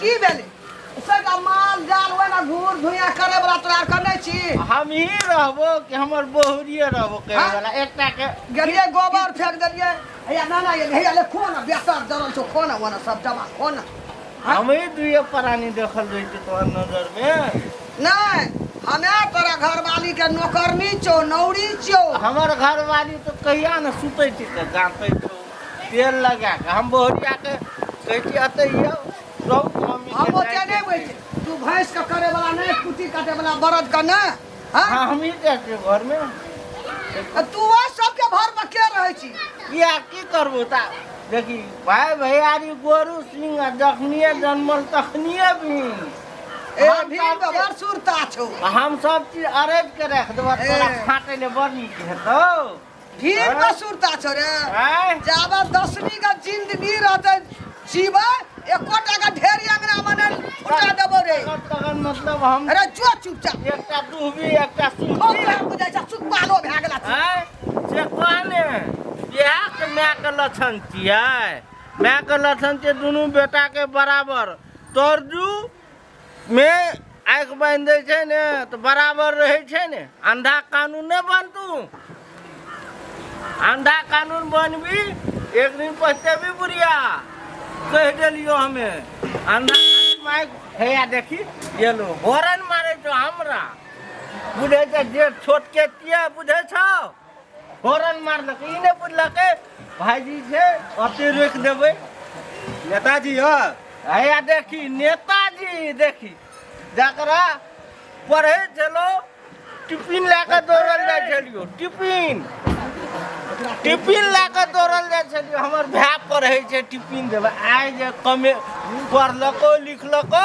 की भेलै से तऽ माल जाल ओहिना घूर धुइया करे वाला तोरा आर कने छी हम ही रहबो कि हमर बहुरिये रहबो करे हाँ? वाला एकटा के गेलियै गोबर फेंक देलियै हैया नाना ये हैया ले खो ना बेसर जरल छौ खो ना ओना सब जमा खो ना हाँ? हम ही दुइये प्राणी देखल जाइ छै तोहर नजर मे नहि हमे तोरा घरवाली के नौकरनी छौ नौरी छौ हमर घरवाली तो कहिया ने सुतै छै तऽ जानतै छौ तेल लगा कऽ हम बोहरिया के कहै छी अतै यौ सब मम्मी हम के ओते जाय नहि के होइ छै। छै तू भैंस के करे वाला नहि कुट्टी काटे वाला बरद के ने हाँ? हाँ हम ही जाइ छियै घर में आ तू ओ सबके भर में के रहै छी किया की करबो ता देखी भाय भैयारी गोरू सिंह आ जखनिए जन्मल तखनिए भी ए हम भीड़ सब में बड़ सुरता छौ चीज- हम सब चीज अरैज के रख देबो ए। तोरा फाटै ले बड़ नीक हेतौ भीड़ में सुरता छो रे आय जाबे दसवीं के जिंदगी रहते जीवे एको टाका ढेरी अंगना मने फुटा देबो रे तखन मतलब हम अरे जो चुपचाप एकटा डूबी एकटा खूब सुनबी काम बुझाइ छ चुप पालो भए गेला छी। आय से कहने बियाह के माय के लक्षण छियै माय के लक्षण छै दुनू बेटा के बराबर तोर दू मे आँखि बान्हि दै छै ने तऽ बराबर रहै छै ने अंधा कानून नहि बनतू अंधा कानून बनबी एक दिन पछतेबी बुढ़िया कहि देलियो हमे अंधा कानून माय हैया देखी ये लो हॉर्न मारे छो हमरा बुझे छै जे छोट के किया बुझे छो हॉर्न मारलक ई नहि बुझलक भाईजी छै अते रोकि देबै नेताजी यौ हैया देखी नेताजी देखी जकरा पढ़ै छलहुँ टिफिन लए कऽ दौड़ल जाइ छलियौ टिफिन टिफिन लए कऽ दौड़ल जाइ छलियौ हमर भाय पढ़ै छै टिफिन देबै आइ जे कमे पढ़लको लिखलको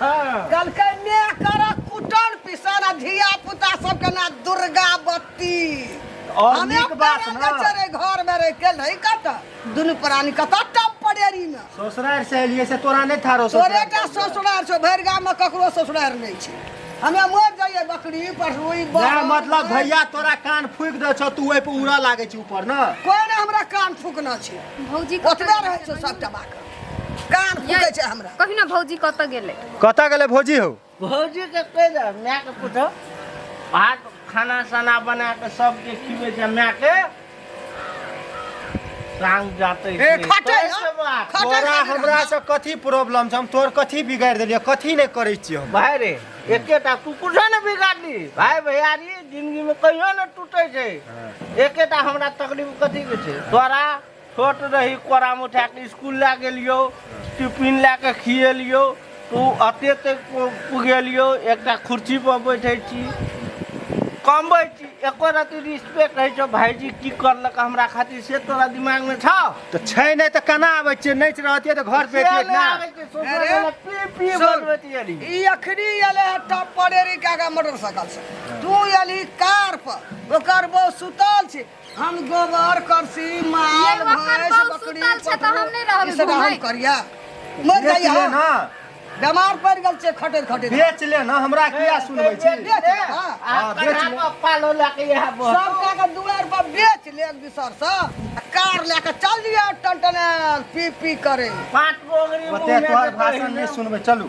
कहलकै मेह करक कुटन पिसन आ धिया पुता सबके ना दुर्गा बत्ती और हमे नीक बात पैरा ना। बेचे रहे घर में रह के नहीं कत दुनू प्राणी कत टप पड़ेरी में ससुरार से एलिए से तोरा नहीं थारो तोरे टा ससुरार छो भरि गाम में ककरो ससुरार नहीं छै हमे मर जाइए बकरी पढ़ुई ना मतलब भैया तोरा कान फूक दे छौ तू ओइ पे उड़ा लागे छी ऊपर ना कोई ने हमरा कान फूकना छै भौजी ओतबे रहै छौ सबटा बात कान फूकै छै हमरा कभी ना भौजी कतऽ गेलै कतऽ गेलै भौजी हौ भौजी के कह दे माय के पूछो भात खाना सना बना के सबके खिबे छै माय के सांग जाते ए, खटै न। खटै तोरा खटै न। हमरा से कथी प्रॉब्लम छै हम तोहर कथी बिगाड़ि देलियै कथी नहि करै छियै हम भाई रे एकेटा कुकुर से ने बिगाड़ली भाई भैयारी जिंदगी में कहियो ने टूटे छै एकेटा हमरा तकलीफ कथी के छै तोरा छोट रही कोरामे उठा कऽ स्कूल लए गेलियो टिफिन लए कऽ खिएलियो तऽ ओ अते तक पुगेलियो एकटा कुर्सी पर बैठे छी कमबै छी एको रति रिस्पेक्ट होइ छौ भाईजी की करलक हमरा खातिर से तोरा दिमागमे छौ तऽ छै नहि तऽ केना आबै छियै नहि रहतियै तऽ घर पे से अतियै नहि ने आबै छै, सोचऽ अरे, वाला पी पी सुन। बनबैत एली। ई अखनी एले है टॉप परेरी के आगा मोटरसाइकिल से तू एली कार पर ओकर बहू सुतल छै हम गोबर करसी माल ये वक्त भैंस बहुत बकरी सुतल छै, तऽ हम नहि रहबै ई सब हम घुमैत। करिया मर बेच जाइया ले हम। ना बेमार पड़ गेल छै खटे खटे बेच ले ना हमरा किया सुनबै छी बेच ले, हाँ। हाँ, बेच ले। सब कह के दुआर पर बेच ले एक दूसर से आ कार ले के चल दिया टनटन पी पी करे ओते तोहर भाषण नहि सुनबै चलू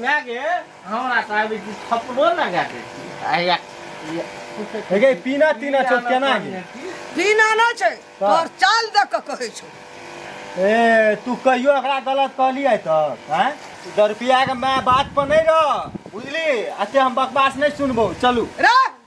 मायके हमरा कहबै कि थपड़ो लगा दै छियै पीना तीना छौ केना पीना नहि छै तोहर चाल देख कऽ कहै छौ ए तू कहियो एकरा गलत कहली है तऽ हैं दस रुपया के माय बात पर नहीं रह बुझली अते हम बकवास नहीं सुनबो चलू रे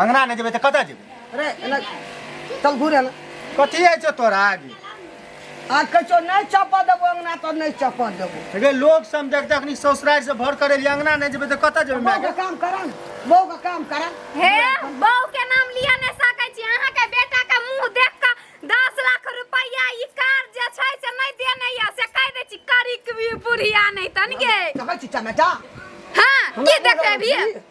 अंगना नहि जेबै तऽ कतऽ जेबै अरे एना चल घूरे ना कथी होइ छौ तोरा आगे आ कह छो नहीं चपा देबो अंगना तो नहीं चपा देबो अरे लोग सब देख जखनी ससुराल से भर करे लिए अंगना नहि जेबै तऽ कतऽ जेबै माय बहु के के काम करा ना बहु के काम करा हे बहू के नाम लिया नहि सकै छी अहाँ के बेटा के मुंह देख के 10 लाख रुपया ई कार जे छै से नहि देने या से कह दे छी करी की बुढ़िया नहि तन गे देखै छी चमेटा हां की देखबे भी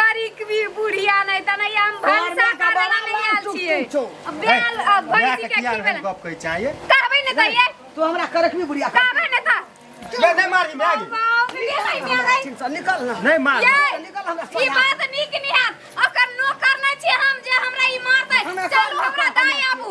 करिकवी बुढ़िया नै तने हम भनसा करे ला नै आल छियै बेल भैंसी के की बेल गप कहै चाहिए कहबै नै कहिए तू हमरा करकवी बुढ़िया कहबै नै त ले नै मारी मैं निकल ना नै मार निकल हमरा ई बात नीक नै है ओकर नौकर नै छी हम जे हमरा ई मारतै चलू हमरा दाई आबू